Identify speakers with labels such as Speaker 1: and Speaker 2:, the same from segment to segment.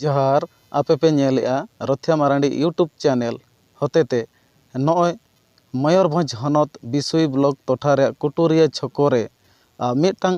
Speaker 1: ᱡᱚᱦᱟᱨ ᱟᱯᱮ ᱯᱮ ᱧᱮᱞᱮᱫᱼᱟ ᱨᱚᱛᱷᱭᱟ ᱢᱟᱨᱟᱱᱰᱤ ᱤᱭᱩᱴᱩᱵᱽ ᱪᱮᱱᱮᱞ ᱦᱚᱛᱮᱛᱮ ᱱᱚᱜᱼᱚᱭ ᱢᱚᱭᱩᱨᱵᱷᱚᱸᱡᱽ ᱦᱚᱱᱚᱛ ᱵᱤᱥᱳᱭ ᱵᱞᱚᱠ ᱴᱚᱴᱷᱟ ᱨᱮᱭᱟᱜ ᱠᱩᱴᱩᱨᱤᱭᱟᱹ ᱪᱷᱚᱠᱚ ᱨᱮ ᱢᱤᱫᱴᱟᱝ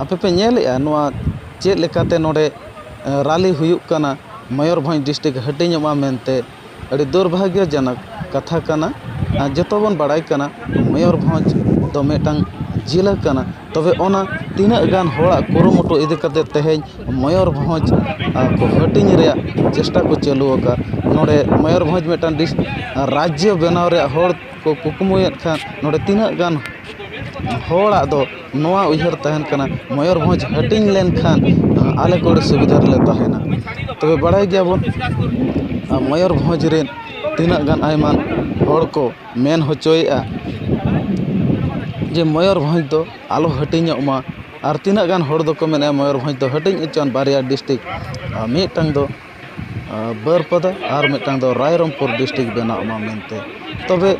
Speaker 1: ᱟᱯᱮ ᱯᱮ ᱧᱮᱞᱮᱫᱼᱟ ᱱᱚᱣᱟ ᱪᱮᱫ ᱞᱮᱠᱟᱛᱮ ᱱᱚᱰᱮ ᱨᱟᱹᱞᱤ ᱦᱩᱭᱩᱜ ᱠᱟᱱᱟ ᱢᱚᱭᱩᱨᱵᱷᱚᱸᱡᱽ ᱰᱤᱥᱴᱤᱠ ᱦᱟᱹᱴᱤᱧᱚᱜ ᱢᱟ ᱢᱮᱱᱛᱮ ᱟᱹᱰᱤ ᱫᱩᱨᱵᱷᱟᱜᱽᱜᱚ ᱡᱚᱱᱚᱠ ᱠᱟᱛᱷᱟ ᱠᱟᱱᱟ ᱟᱨ ᱡᱚᱛᱚ ᱵᱚᱱ ᱵᱟᱲᱟᱭ ᱠᱟᱱᱟ ᱢᱚᱭᱩᱨᱵᱷᱚᱸᱡᱽ ᱫᱚ ᱢᱤᱫᱴᱟᱱ ᱡᱮᱞᱟ ᱠᱟᱱᱟ ᱛᱚᱵᱮ ᱚᱱᱟ ᱛᱤᱱᱟᱹᱜ ᱜᱟᱱ ᱦᱚᱲᱟᱜ ᱠᱩᱨᱩᱢᱩᱴᱩ ᱤᱫᱤ ᱠᱟᱛᱮᱫ ᱛᱮᱦᱮᱧ ᱢᱚᱭᱩᱨᱵᱷᱚᱸᱡᱽ ᱠᱚ ᱦᱟᱹᱴᱤᱧ ᱨᱮᱭᱟᱜ ᱪᱮᱥᱴᱟ ᱠᱚ ᱪᱟᱹᱞᱩ ᱟᱠᱟᱫ ᱱᱚᱰᱮ ᱢᱚᱭᱩᱨᱵᱷᱚᱸᱡᱽ ᱢᱤᱫᱴᱟᱱ ᱨᱟᱡᱽᱡᱚ ᱵᱮᱱᱟᱣ ᱨᱮᱭᱟᱜ ᱦᱚᱲ ᱠᱚ ᱠᱩᱠᱢᱩᱭᱮᱫ ᱠᱷᱟᱱ ᱱᱚᱰᱮ ᱛᱤᱱᱟᱹᱜ ᱜᱟᱱ ᱦᱚᱲᱟᱜ ᱫᱚ ᱱᱚᱣᱟ ᱩᱭᱦᱟᱹᱨ ᱛᱟᱦᱮᱱ ᱠᱟᱱᱟ ᱢᱚᱭᱩᱨᱵᱷᱚᱸᱡᱽ ᱦᱟᱹᱴᱤᱧ ᱞᱮᱱᱠᱷᱟᱱ ᱟᱞᱮ ᱠᱚ ᱟᱹᱰᱤ ᱥᱩᱵᱤᱫᱷᱟ ᱨᱮᱞᱮ ᱛᱟᱦᱮᱱᱟ ᱛᱚᱵᱮ ᱵᱟᱲᱟᱭ ᱜᱮᱭᱟᱵᱚᱱ ᱢᱚᱭᱩᱨᱵᱷᱚᱸᱡᱽ ᱨᱮ ᱛᱤᱱᱟᱹᱜ ᱜᱟᱱ ᱟᱭᱢᱟ ᱦᱚᱲ ᱠᱚ ᱢᱮᱱ ᱦᱚᱪᱚᱭᱮᱫᱼᱟ ᱡᱮ ᱢᱚᱭᱩᱨᱵᱷᱚᱸᱡᱽ ᱫᱚ ᱟᱞᱚ ᱦᱟᱹᱴᱤᱧᱚᱜ ᱢᱟ ᱟᱨ ᱛᱤᱱᱟᱹᱜ ᱜᱟᱱ ᱦᱚᱲ ᱫᱚᱠᱚ ᱢᱮᱱᱮᱫᱼᱟ ᱢᱚᱭᱩᱨᱵᱷᱚᱸᱡᱽ ᱫᱚ ᱦᱟᱹᱴᱤᱧ ᱦᱚᱪᱚᱣᱟᱱ ᱵᱟᱨᱭᱟ ᱰᱤᱥᱴᱤᱠ ᱢᱤᱫᱴᱟᱱ ᱫᱚ ᱵᱟᱹᱨᱯᱟᱫᱟ ᱟᱨ ᱢᱤᱫᱴᱟᱝ ᱫᱚ ᱨᱟᱭᱨᱚᱝᱯᱩᱨ ᱰᱤᱥᱴᱤᱠ ᱵᱮᱱᱟᱜ ᱢᱟ ᱢᱮᱱᱛᱮ ᱛᱚᱵᱮ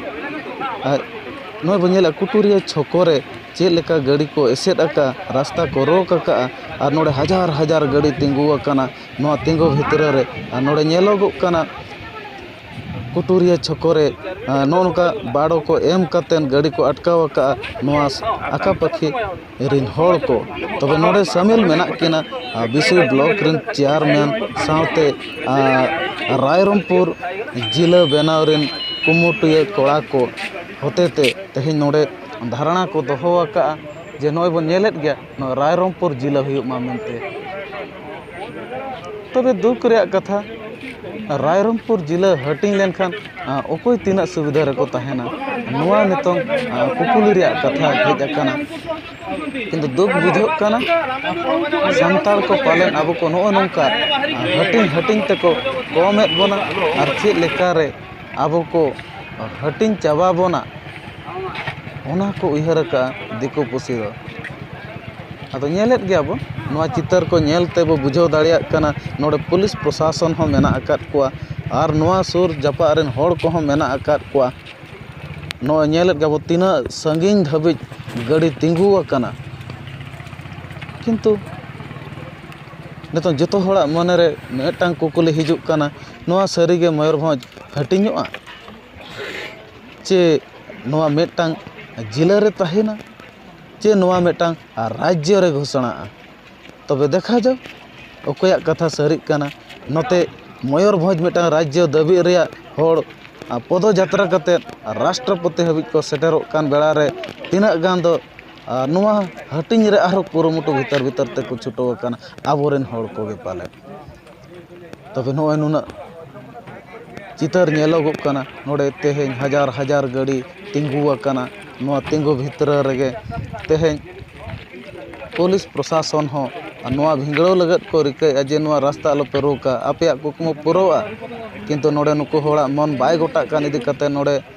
Speaker 1: ᱱᱚᱜᱼᱚᱭ ᱵᱚᱱ ᱧᱮᱞᱮᱫᱼᱟ ᱠᱩᱴᱩᱨᱤᱭᱟᱹ ᱪᱷᱚᱠᱚ ᱨᱮ ᱪᱮᱫ ᱞᱮᱠᱟ ᱜᱟᱹᱰᱤ ᱠᱚ ᱮᱥᱮᱫ ᱟᱠᱟᱫᱼᱟ ᱨᱟᱥᱛᱟ ᱠᱚ ᱨᱳᱠ ᱟᱠᱟᱫᱼᱟ ᱟᱨ ᱱᱚᱰᱮ ᱦᱟᱡᱟᱨ ᱦᱟᱡᱟᱨ ᱜᱟᱹᱰᱤ ᱛᱤᱸᱜᱩ ᱟᱠᱟᱱᱟ ᱱᱚᱣᱟ ᱛᱤᱸᱜᱩ ᱵᱷᱤᱛᱨᱤ ᱨᱮ ᱟᱨ ᱱᱚᱰᱮ ᱧᱮᱞᱚᱜᱚᱜ ᱠᱟᱱᱟ ᱠᱩᱴᱩᱨᱤᱭᱟᱹ ᱪᱷᱚᱠᱚ ᱨᱮ ᱱᱚᱜᱼᱚ ᱱᱚᱝᱠᱟ ᱵᱟᱨᱚ ᱠᱚ ᱮᱢ ᱠᱟᱛᱮᱫ ᱜᱟᱹᱰᱤ ᱠᱚ ᱟᱴᱠᱟᱣ ᱟᱠᱟᱫᱼᱟ ᱱᱚᱣᱟ ᱟᱸᱠᱟᱼᱯᱟᱹᱠᱷᱤ ᱨᱮᱱ ᱦᱚᱲ ᱠᱚ ᱛᱚᱵᱮ ᱱᱚᱰᱮ ᱥᱟᱹᱢᱤᱞ ᱢᱮᱱᱟᱜ ᱠᱤᱱᱟ ᱵᱤᱥᱩᱭ ᱵᱞᱚᱠ ᱨᱮᱱ ᱪᱮᱭᱟᱨᱢᱮᱱ ᱥᱟᱶᱛᱮ ᱨᱟᱭᱨᱚᱝᱯᱩᱨ ᱡᱤᱞᱟᱹ ᱵᱮᱱᱟᱣ ᱨᱮᱱ ᱠᱩᱢᱩᱴᱤᱭᱟᱹ ᱠᱚᱲᱟ ᱠᱚ ᱦᱚᱛᱮ ᱛᱮ ᱛᱮᱦᱮᱧ ᱱᱚᱰᱮ ᱫᱷᱟᱨᱚᱱᱟ ᱠᱚ ᱫᱚᱦᱚ ᱟᱠᱟᱫᱼᱟ ᱡᱮ ᱱᱚᱜᱼᱚᱭ ᱵᱚᱱ ᱧᱮᱞᱮᱫ ᱜᱮᱭᱟ ᱱᱚᱣᱟ ᱨᱟᱭᱨᱚᱝᱯᱩᱨ ᱡᱤᱞᱟᱹ ᱦᱩᱭᱩᱜ ᱢᱟ ᱢᱮᱱᱛᱮ ᱛᱚᱵᱮ ᱫᱩᱠ ᱨᱮᱭᱟᱜ ᱠᱟᱛᱷᱟ ᱨᱟᱭᱨᱚᱝᱯᱩᱨ ᱡᱮᱞᱟ ᱦᱟᱹᱴᱤᱧ ᱞᱮᱱᱠᱷᱟᱱ ᱚᱠᱚᱭ ᱛᱤᱱᱟᱹᱜ ᱥᱩᱵᱤᱫᱷᱟ ᱨᱮᱠᱚ ᱛᱟᱦᱮᱱᱟ ᱱᱚᱣᱟ ᱱᱤᱛᱚᱝ ᱠᱩᱠᱞᱤ ᱨᱮᱭᱟᱜ ᱠᱟᱛᱷᱟ ᱦᱮᱡ ᱟᱠᱟᱱᱟ ᱠᱤᱱᱛᱩ ᱫᱩᱠ ᱵᱩᱡᱷᱟᱹᱜ ᱠᱟᱱᱟ ᱥᱟᱱᱛᱟᱲ ᱠᱚ ᱯᱟᱞᱮᱱ ᱟᱵᱚ ᱠᱚ ᱱᱚᱜᱼᱚᱸᱭ ᱱᱚᱝᱠᱟ ᱦᱟᱹᱴᱤᱧ ᱦᱟᱹᱴᱤᱧ ᱛᱮᱠᱚ ᱠᱚᱢᱮᱜ ᱵᱚᱱᱟ ᱟᱨ ᱪᱮᱫ ᱞᱮᱠᱟᱨᱮ ᱟᱵᱚ ᱠᱚ ᱦᱟᱹᱴᱤᱧ ᱪᱟᱵᱟ ᱵᱚᱱᱟ ᱚᱱᱟ ᱠᱚ ᱩᱭᱦᱟᱹᱨ ᱠᱟᱜᱼᱟ ᱫᱤᱠᱩ ᱯᱩᱥᱤ ᱫᱚ ᱟᱫᱚ ᱧᱮᱞᱮᱫ ᱜᱮᱭᱟ ᱵᱚᱱ ᱱᱚᱣᱟ ᱪᱤᱛᱟᱹᱨ ᱠᱚ ᱧᱮᱞ ᱛᱮᱵᱚ ᱵᱩᱡᱷᱟᱹᱣ ᱫᱟᱲᱮᱭᱟᱜ ᱠᱟᱱᱟ ᱱᱚᱰᱮ ᱯᱩᱞᱤᱥ ᱯᱨᱚᱥᱟᱥᱚᱱ ᱦᱚᱸ ᱢᱮᱱᱟᱜ ᱟᱠᱟᱫ ᱠᱚᱣᱟ ᱟᱨ ᱱᱚᱣᱟ ᱥᱩᱨ ᱡᱟᱯᱟᱜ ᱨᱮᱱ ᱦᱚᱲ ᱠᱚᱦᱚᱸ ᱢᱮᱱᱟᱜ ᱟᱠᱟᱫ ᱠᱚᱣᱟ ᱱᱚᱜᱼᱚᱸᱭ ᱧᱮᱞᱮᱫ ᱜᱮᱭᱟ ᱵᱚᱱ ᱛᱤᱱᱟᱹᱜ ᱥᱟᱺᱜᱤᱧ ᱫᱷᱟᱹᱵᱤᱡ ᱜᱟᱹᱰᱤ ᱛᱤᱸᱜᱩ ᱟᱠᱟᱱᱟ ᱠᱤᱱᱛᱩ ᱱᱤᱛᱚᱜ ᱡᱚᱛᱚ ᱦᱚᱲᱟᱜ ᱢᱚᱱᱮ ᱨᱮ ᱢᱤᱫᱴᱟᱝ ᱠᱩᱠᱞᱤ ᱦᱤᱡᱩᱜ ᱠᱟᱱᱟ ᱱᱚᱣᱟ ᱥᱟᱹᱨᱤᱜᱮ ᱢᱚᱭᱩᱨᱵᱷᱚᱸᱡᱽ ᱦᱟᱹᱴᱤᱧᱚᱜᱼᱟ ᱪᱮ ᱱᱚᱣᱟ ᱢᱤᱫᱴᱟᱱ ᱡᱮᱞᱟ ᱨᱮ ᱛᱟᱦᱮᱱᱟ ᱪᱮ ᱱᱚᱣᱟ ᱢᱤᱫᱴᱟᱱ ᱨᱟᱡᱽᱡᱚ ᱨᱮ ᱜᱷᱳᱥᱚᱱᱟᱜᱼᱟ ᱛᱚᱵᱮ ᱫᱮᱠᱷᱟ ᱡᱟᱠ ᱚᱠᱚᱭᱟᱜ ᱠᱟᱛᱷᱟ ᱥᱟᱹᱨᱤᱜ ᱠᱟᱱᱟ ᱱᱚᱛᱮ ᱢᱚᱭᱩᱨᱵᱷᱚᱸᱡᱽ ᱢᱤᱫᱴᱟᱱ ᱨᱟᱡᱽᱡᱚ ᱫᱟᱹᱵᱤᱜ ᱨᱮᱭᱟᱜ ᱦᱚᱲ ᱯᱚᱫᱚ ᱡᱟᱛᱨᱟ ᱠᱟᱛᱮᱫ ᱨᱟᱥᱴᱨᱚᱯᱚᱛᱤ ᱦᱟᱹᱵᱤᱡ ᱠᱚ ᱥᱮᱴᱮᱨᱚᱜ ᱠᱟᱱ ᱵᱮᱲᱟ ᱨᱮ ᱛᱤᱱᱟᱹᱜ ᱜᱟᱱ ᱫᱚ ᱱᱚᱣᱟ ᱦᱟᱹᱴᱤᱧ ᱨᱮ ᱟᱨᱦᱚᱸ ᱠᱩᱨᱩᱢᱩᱴᱩ ᱵᱷᱤᱛᱟᱹᱨ ᱵᱷᱤᱛᱟᱹᱨ ᱛᱮᱠᱚ ᱪᱷᱩᱴᱟᱹᱣ ᱟᱠᱟᱱᱟ ᱟᱵᱚ ᱨᱮᱱ ᱦᱚᱲ ᱠᱚᱜᱮ ᱯᱟᱞᱮᱫ ᱛᱚᱵᱮ ᱱᱚᱜᱼᱚᱭ ᱱᱩᱱᱟᱹᱜ ᱪᱤᱛᱟᱹᱨ ᱧᱮᱞᱚᱜᱚᱜ ᱠᱟᱱᱟ ᱱᱚᱰᱮ ᱛᱮᱦᱮᱧ ᱦᱟᱡᱟᱨ ᱦᱟᱡᱟᱨ ᱜᱟᱹᱰᱤ ᱛᱤᱸᱜᱩ ᱟᱠᱟᱱᱟ ᱱᱚᱣᱟ ᱛᱤᱸᱜᱩ ᱵᱷᱤᱛᱨᱤ ᱨᱮᱜᱮ ᱛᱮᱦᱮᱧ ᱯᱩᱞᱤᱥ ᱯᱨᱚᱥᱟᱥᱚᱱ ᱦᱚᱸ ᱱᱚᱣᱟ ᱵᱷᱤᱸᱫᱟᱹᱲ ᱞᱟᱹᱜᱤᱫ ᱠᱚ ᱨᱤᱠᱟᱹᱭᱮᱫᱼᱟ ᱡᱮ ᱱᱚᱣᱟ ᱨᱟᱥᱛᱟ ᱟᱞᱚᱯᱮ ᱨᱳᱠᱟ ᱟᱯᱮᱭᱟᱜ ᱠᱩᱠᱢᱩ ᱯᱩᱨᱟᱹᱜᱼᱟ ᱠᱤᱱᱛᱩ ᱱᱚᱰᱮ ᱱᱩᱠᱩ ᱦᱚᱲᱟᱜ ᱢᱚᱱ ᱵᱟᱭ ᱜᱳᱴᱟᱜ ᱠᱟᱱ ᱤᱫᱤ ᱠᱟᱛᱮᱫ ᱱᱚᱰᱮ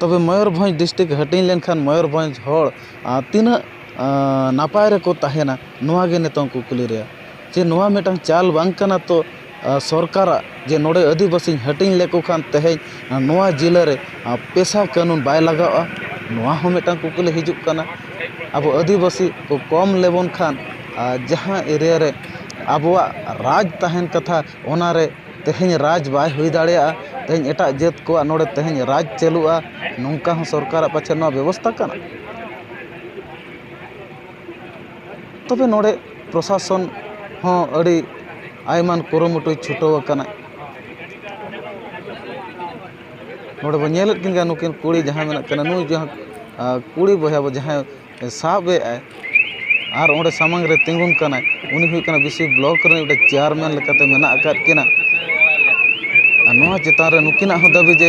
Speaker 1: ᱛᱚᱵᱮ ᱢᱚᱭᱩᱨᱵᱷᱚᱸᱡᱽ ᱰᱤᱥᱴᱤᱠ ᱦᱟᱹᱴᱤᱧ ᱞᱮᱱᱠᱷᱟᱱ ᱢᱚᱭᱩᱨᱵᱷᱚᱸᱡᱽ ᱦᱚᱲ ᱛᱤᱱᱟᱹᱜ ᱱᱟᱯᱟᱭ ᱨᱮᱠᱚ ᱛᱟᱦᱮᱱᱟ ᱱᱚᱣᱟᱜᱮ ᱱᱤᱛᱚᱝ ᱠᱩᱠᱞᱤ ᱨᱮᱭᱟᱜ ᱡᱮ ᱱᱚᱣᱟ ᱢᱤᱫᱴᱟᱱ ᱪᱟᱞ ᱵᱟᱝ ᱠᱟᱱᱟ ᱛᱚ ᱥᱚᱨᱠᱟᱨᱟᱜ ᱡᱮ ᱱᱚᱰᱮ ᱟᱹᱫᱤᱵᱟᱹᱥᱤᱧ ᱦᱟᱹᱴᱤᱧ ᱞᱮᱠᱚ ᱠᱷᱟᱱ ᱛᱮᱦᱮᱧ ᱱᱚᱣᱟ ᱡᱤᱞᱟᱹ ᱨᱮ ᱯᱮᱥᱟ ᱠᱟᱹᱱᱩᱱ ᱵᱟᱭ ᱞᱟᱜᱟᱜᱼᱟ ᱱᱚᱣᱟ ᱦᱚᱸ ᱢᱤᱫᱴᱟᱱ ᱠᱩᱠᱞᱤ ᱦᱤᱡᱩᱜ ᱠᱟᱱᱟ ᱟᱵᱚ ᱟᱹᱫᱤᱵᱟᱹᱥᱤ ᱠᱚ ᱠᱚᱢ ᱞᱮᱵᱚᱱ ᱠᱷᱟᱱ ᱟᱨ ᱡᱟᱦᱟᱸ ᱮᱨᱤᱭᱟ ᱨᱮ ᱟᱵᱚᱣᱟᱜ ᱨᱟᱡᱽ ᱛᱟᱦᱮᱱ ᱠᱟᱛᱷᱟ ᱚᱱᱟᱨᱮ ᱛᱮᱦᱮᱧ ᱨᱟᱡᱽ ᱵᱟᱭ ᱦᱩᱭ ᱫᱟᱲᱮᱭᱟᱜᱼᱟ ᱛᱮᱦᱮᱧ ᱮᱴᱟᱜ ᱡᱟᱹᱛ ᱠᱚᱣᱟᱜ ᱱᱚᱰᱮ ᱛᱮᱦᱮᱧ ᱨᱟᱡᱽ ᱪᱟᱹᱞᱩᱜᱼᱟ ᱱᱚᱝᱠᱟ ᱦᱚᱸ ᱥᱚᱨᱠᱟᱨᱟᱜ ᱯᱟᱪᱮᱫ ᱱᱚᱣᱟ ᱵᱮᱵᱚᱥᱛᱷᱟ ᱠᱟᱱᱟ ᱛᱚᱵᱮ ᱱᱚᱰᱮ ᱯᱨᱚᱥᱟᱥᱚᱱ ᱦᱚᱸ ᱟᱹᱰᱤ ᱟᱭᱢᱟ ᱠᱩᱨᱩᱢᱩᱴᱩᱭ ᱪᱷᱩᱴᱟᱹᱣ ᱟᱠᱟᱱᱟ ᱱᱚᱰᱮ ᱵᱚᱱ ᱧᱮᱞᱮᱫ ᱠᱤᱱ ᱜᱮᱭᱟ ᱱᱩᱠᱤᱱ ᱠᱩᱲᱤ ᱡᱟᱦᱟᱸᱭ ᱢᱮᱱᱟᱜ ᱠᱤᱱᱟ ᱱᱩᱭ ᱡᱟᱦᱟᱸ ᱠᱩᱲᱤ ᱵᱚᱭᱦᱟ ᱡᱟᱦᱟᱸᱭ ᱥᱟᱵ ᱮᱫ ᱟᱭ ᱟᱨ ᱚᱸᱰᱮ ᱥᱟᱢᱟᱝ ᱨᱮ ᱛᱤᱸᱜᱩᱱ ᱠᱟᱱᱟᱭ ᱩᱱᱤ ᱦᱩᱭᱩᱜ ᱠᱟᱱᱟᱭ ᱵᱤᱥᱤ ᱵᱞᱚᱠ ᱨᱮᱱ ᱢᱤᱫᱴᱮᱱ ᱪᱮᱭᱟᱨᱢᱮᱱ ᱞᱮᱠᱟᱛᱮ ᱢᱮᱱᱟᱜ ᱟᱠᱟᱫ ᱠᱤᱱᱟ ᱟᱨ ᱱᱚᱣᱟ ᱪᱮᱛᱟᱱ ᱨᱮ ᱱᱩᱠᱤᱱᱟᱜ ᱦᱚᱸ ᱫᱟᱹᱵᱤ ᱡᱮ